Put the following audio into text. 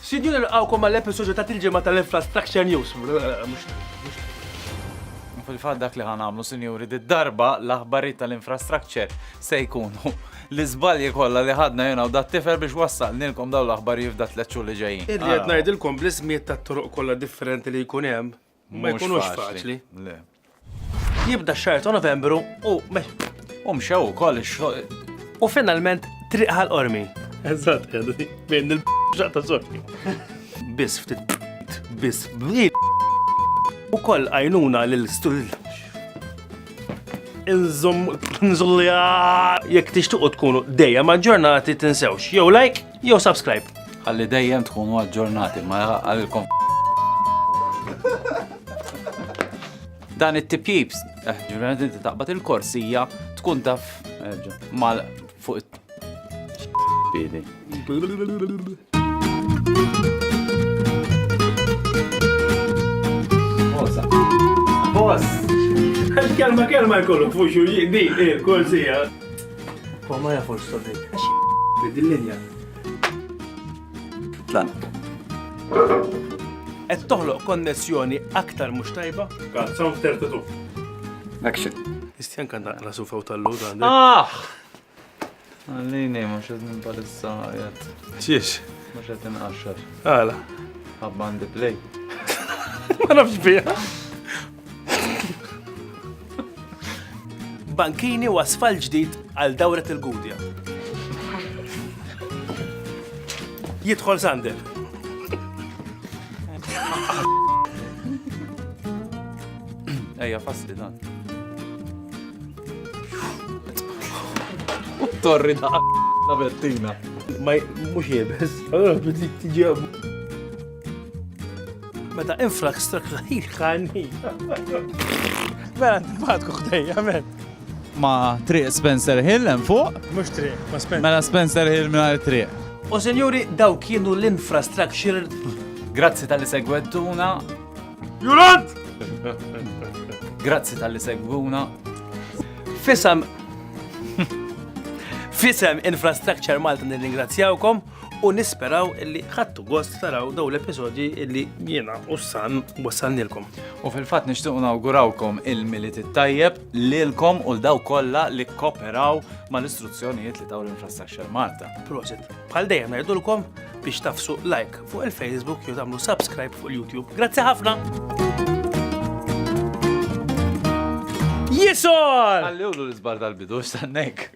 Sinjur il-għawkom għall-episodju ta' tilġima tal-Infrastructure News. Fil-fat dak li ħanamlu, sinjuri, di darba l-aħbari tal-infrastructure se jkunu l-izbalji kollha li ħadna jena u dat tifer biex wassal nilkom daw l-aħbari f'dat leċċu li ġejjin. Irrid ngħidilkom bl-ismiet tat-toroq kollha differenti li jkun hemm, Ma jkunux faċli. Le. Jibda x-xahar ta' Novembru u U mxew ukoll ix-xogħol. u finalment triq ħal qormi. Eżatt, għaddi. Bejn il-bxaq ta' sorti. Biss ftit biss bli. U koll għajnuna lil stul. Inżom nżulja. Jekk tixtuqu tkunu dejjem aġġornati tinsewx. Jew like, Jew subscribe. Ħalli dejjem tkunu aġġornati ma għalilkom. Dan it-tipjips, eh, ġurnati inti taqbad il-korsija, tkun taf eh, mal fuq it Boss! Kelma kelma jkollu fuxu, di, eh, korsija. Huwa ma jafux sodin. Għax dil-linja. Tlan. Qed toħloq konnessjoni aktar mhux tajba? Kat, sound tertatu. Action. Istjan kan naqra sufaw tal-lod għandek. Ah! Għallini, ma xed minn palissa jgħat. Xiex? Ma xed inqaxxar. Għala. Għabba għandi play. Ma nafx bija. Bankini u asfal ġdid għal dawret il-Gudja. Jidħol Sander. Ejja, fasti dan. Torri da' la Bettina. Ma mux jibes. Allora, tiġi Meta infrastructure jħanni. Vera, ntibatku ħdejja, men. Ma triq Spencer Hill hemm fuq? Mhux triq, ma Spencer. Mela Spencer Hill mingħajr triq. U senjuri, daw kienu l-infrastructure. Grazzi tal-li segwettuna. Jurant! Grazzi tal-li segwuna. Fisam. Fisam Infrastructure Malta nirringrazzjawkom. u nisperaw illi ħattu gost taraw daw l-episodji illi jiena u s-san wassalnilkom. U fil-fat nishtuq nawgurawkom il-milit it-tajjeb lilkom u l-daw kollha li koperaw mal-istruzzjonijiet li taw l-Infrastructure Malta. Prosit, bħal dejjem ngħidulkom biex tafsu like fuq il-Facebook jew tagħmlu subscribe fuq il-YouTube. Grazzi ħafna! Jisol! Għalli ulu l-izbar tal-bidu, stannek.